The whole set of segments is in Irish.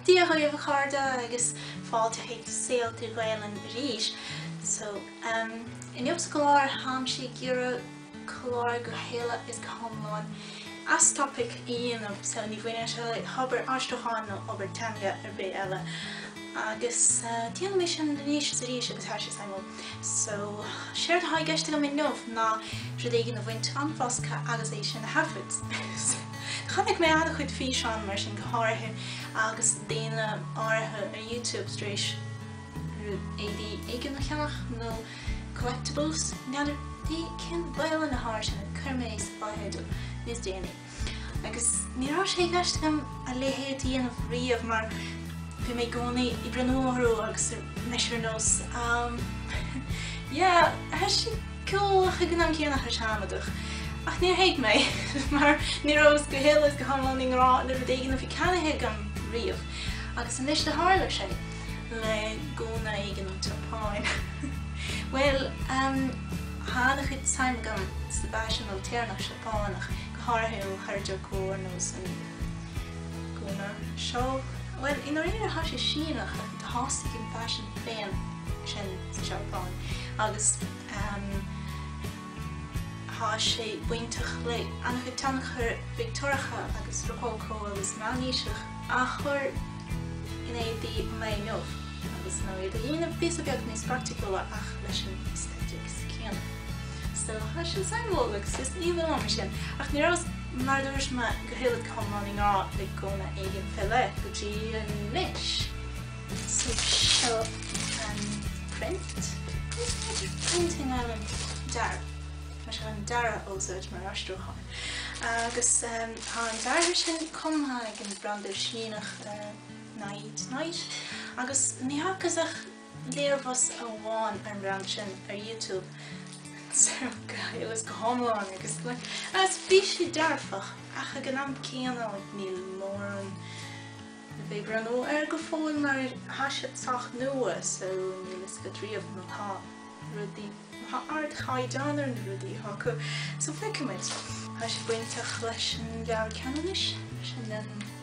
Dia dhaoibh a chairde agus fáilte chuig Saol Trí Ghaelainn arís. So, em, inniu sa gclár táimse ag iarraidh clár go huile agus go hiomlán as topaic a dhéanamh, so ní bhaineann sé le hobair aistriúcháin nó obair teanga ar bith eile. Agus déanfaidh mé sin anois is arís agus tá sé suimiúil. So, séard atá i gceist agam inniu ná rud éigin a bhaint den bhosca agus é sin a thaifead. Chonaic mé an-chuid físeán mar sin, go háirithe agus daoine áirithe ar YouTube tar éis éadaí éigin a cheannach nó collectibles, n'fheadar cén Ghaelainn atá air sin, cuirfidh mé sa fotheideal, níos déanaí. Agus ní raibh sé i gceist agam a leithéid a dhéanamh riamh mar bhí mé i gcónaí ag breathnú orthu agus bhí mise ar nós, 'Am, yeah, tá sé cool, ach ag an am céanna tá sé amaideach, ach níor thuig mé, mar ní rabhas go huile is go hiomlán i ngrá le rud éigin a bhí ceannaithe agam riamh, agus anois do tharla sé, le gúna éigin ón tSeapáin. Bhuel, em, tá an-chuid suime agam sa bhfaisean ailtéarnach Seapánach, go háirithe ó Harajuku ar nós an gúna seo, bhuel, i ndáiríre tá sé Síneach, Thosaigh an faisean féin ansin sa Seapáin agus tá sé bainteach le an-chuid tionchair Victeoiriacha agus Rocócó agus Meánaoiseach a chur in éadaí an lae inniu, agus nó iad a dhéanamh píosa beag níos praiticiúla ach leis an aestéitic céanna. So I was just saying well like sis ní bhfuil ama sin ach ní rabhas mar a dúirt mé go huile is go hiomlán i ngrá le gúna éigin go fóill go dtí anois. So seo an print. Cos féidir painting ar an dearadh. Tá sé an dearadh a úsáid mar aistriúchán. Agus tá an dearadh sin cumtha ag an bhranda Síneach NyaNya agus ní fhacas ach Léirmheas amháin ar an mbranda sin ar YouTube so go huile is go hiomlán agus agus bhí sé dearfach ach ag an am céanna níl mórán fén mbranda air go fóill mar ar tá siad sách nua so níl fhios agat riamh má tá rudaí má tá ardchaighdeán ar na rudaí acu so feicfimid. Tá sé bainteach leis an Leabhar Cheanannais, sin an.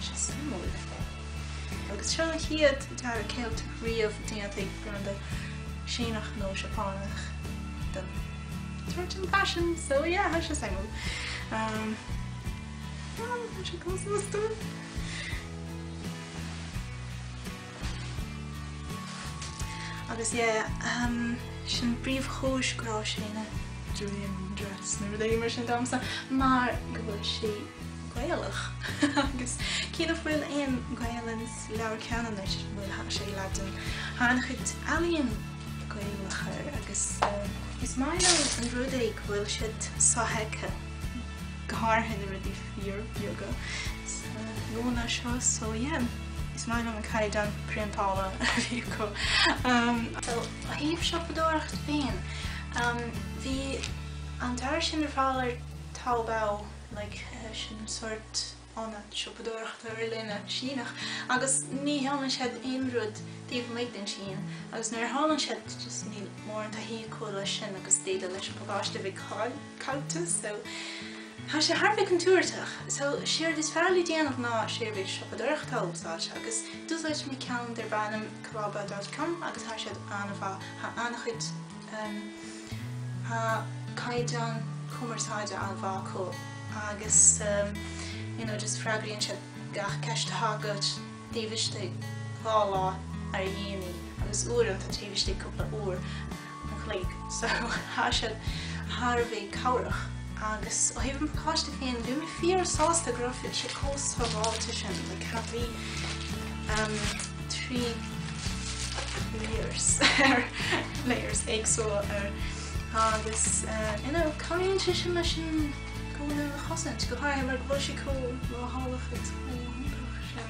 Sé suimiúil le fáil. Agus seo an chéad dearadh Ceilteach riamh déanta ag branda Síneach nó Seapánach den tsórt san faisin, so yeah, tá sé suimiúil. Um, ah, tá sé cosúil. Agus yeah, sin príomhchúis go raibh sé ina dream dress nó rudaí mar sin domsa, mar go bhfuil sé Gaelach. Agus cé nach bhfuil aon Gaelainn i Leabhar Cheanannais, bhuel, tá sé i Laidin, tá an-chuid ealaíon Gaelach air, agus. Is maith liom an rud é go bhfuil siad sofheicthe, go háirithe na rudaí fíorbheaga sa ngúna seo, so yeah. Is maith liom an caighdeán priontála a bhí acu. So, ó thaobh siopadóireacht féin, bhí an dearadh sin ar fáil ar Taobao, like, sin sórt ionad siopadóireachta ar líne Síneach, agus ní sheolann siad aon rud taobh amuigh den tSín, agus nuair a sheolann siad, just níl mórán taithí acu leis sin agus d'fhéadfadh leis an bpacáiste a bheith ag fáil. caillte so tá sé thar a bheith contúirteach. So séard is fearr le déanamh ná seirbhís siopadóireachta a úsáid agus d'úsáid mé ceann darb ainm Clobba dot com agus tá siad an-mhaith, tá an-chuid ehm, tá caighdeán cumarsáide an-mhaith acu agus ehm, you know, just freagraíonn siad gach ceist atá agat taobh istigh dhá lá ar a dhéanaí agus uaireanta taobh istigh cúpla uair an chloig so tá sé sin thar a bheith cabhrach, agus ó thaobh an pacáiste féin, bhí mé fíor sásta go raibh sé chomh sábháilte sin, like ceapaim trí layers ar layers éagsúla air, agus you know cabhraíonn sé sin leis an ngúna a chosaint, go háirithe mar go bhfuil sé chomh leochaileach agus chomh hiontach sin.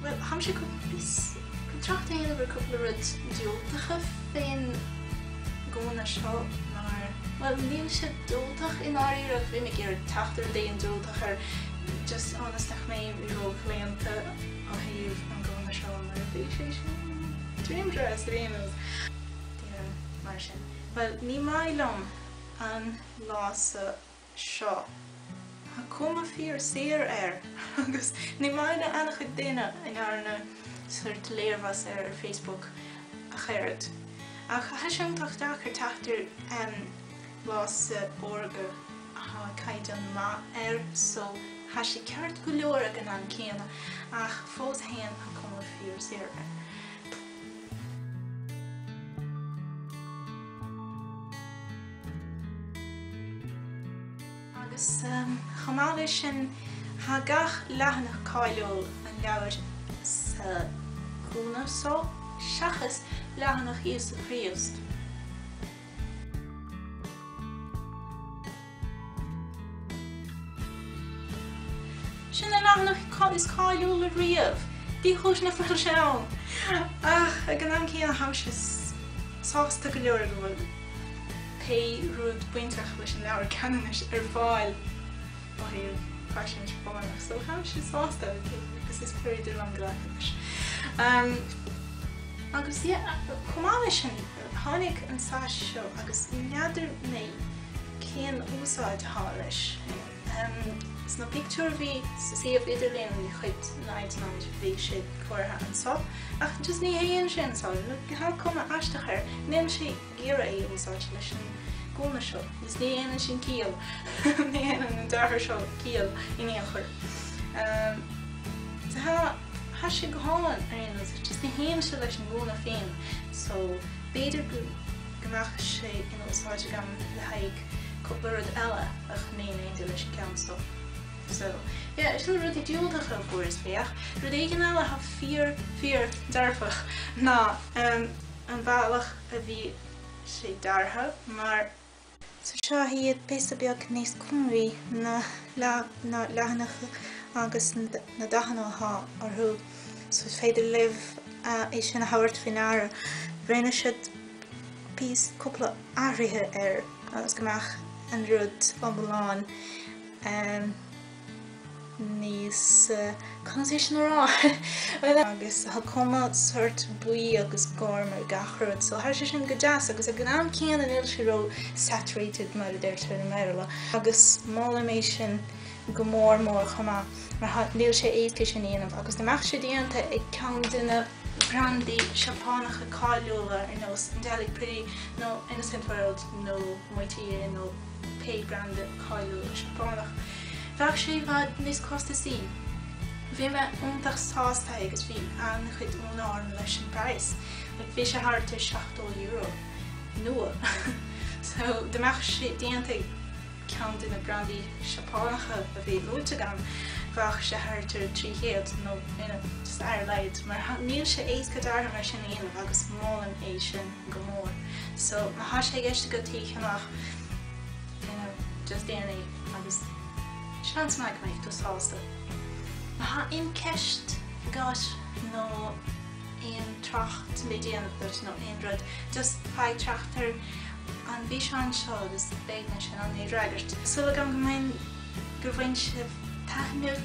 Bhuel, tháimse cúpla bhíos chun trácht a dhéanamh ar cúpla rud diúltacha fén ngúna seo mar, bhuel, níl sé diúltach i ndáiríre ach bhí mé ag iarraidh teacht ar rud éigin diúltach air just ionas nach mbeinn róchlaonta ó thaobh an gúna seo mar bhí sé sin dream dress domsa yeah mar sin. Bhuel, ní maith liom an lása seo. Tá cuma fíor saor air agus ní maith le an-chuid daoine a ndearna sórt léirmheas air ar Facebook ach oiread. Ach tá sé iontach deacair teacht ar lása órga athá caighdeán maith air so tá sé ceart go leor ag an am céanna ach fós fhéin tá cuma fíor saor air. Agus chomh maith leis sin, tá gach leathanach cáiliúil an leabhair sa ngúna so, seachas leathanach Íosa Críost. Sin an leathanach is cáiliúla riamh! Ní chúis nach bhfuil sé ann, ach ag an am céanna táimse sásta go leor go bhfuil pé rud bainteach leis an Leabhar Ceanannais ar fáil ó thaobh faisin Seapánach, so táimse sásta agus is féidir liom glacadh leis. Agus yeah, chomh maith leis sin, Tháinig an tsais seo agus n'fheadar mé cén úsáid atá leis. Sna pictiúir a bhí sa suíomh idirlíon de chuid Night Night bhí sé curtha anseo ach just ní théann sé anseo nó tá cuma aisteach air, ní féidir é a úsáid leis an gúna seo agus ní dhéanann sin ciall, ní dhéanann an deartha seo ciall in aon chor. Tá. Thá sé go hálainn ar aon nós, ach just ní théann sé leis an ngúna féin, so b'fhéidir go mbeadh sé in úsáid agam le haghaidh cúpla rud eile ach ní féidir leis an gceann seo. So, yeah, sin na rudaí diúltacha, of course, féach, rud éigin eile atá fíor, fíor dearfach ná an bealach a bhí sé deartha, mar So tá siad píosa beag níos cúngraí na leathanaigh agus na dathanna atá orthu so is féidir libh é sin a thabhairt faoi ndeara. Rinne siad píos cúpla athruithe air agus go mbeadh an rud iomlán. níos, conas é sin a rá? Bhuel, agus tá cuma sort buí agus gorm ar gach rud, so tá sé sin go deas agus ag an am céanna níl sé ró saturated mar a deirtear i mBéarla agus molaim é sin go mór mór chomh maith mar tá, níl sé éasca sin a dhéanamh agus dá mbeadh sé déanta ag ceann de na brandaí Seapánacha cáiliúla ar nós Angelic Pretty nó Innocent World nó Moitié nó. pé branda cáiliúil Seapánach, bheadh sé i bhfad níos costasaí. Bhí mé iontach sásta agus bhí an-chuid ionadh orm leis an bpraghas, like bhí sé thart ar €70, nua. So dá mbeadh sé déanta ag ceann de na brandaí Seapánacha a bhí luaite agam, bheadh sé thart ar 300 nó, you know, just ar a laghad. Mar níl sé éasca deartha mar sin a dhéanamh agus molaim é sin. go mór. So má thá sé i gceist agat é a cheannach fuinneamh just déan é agus seans maith go mbeidh tú sásta. Má thá aon ceist agat nó aon trácht le déanamh agat nó aon rud just fág trácht ar an bhfíseán seo agus beidh mé in ann é a fhreagairt. Súil agam go mbeidh gur bhain sibh taitneamh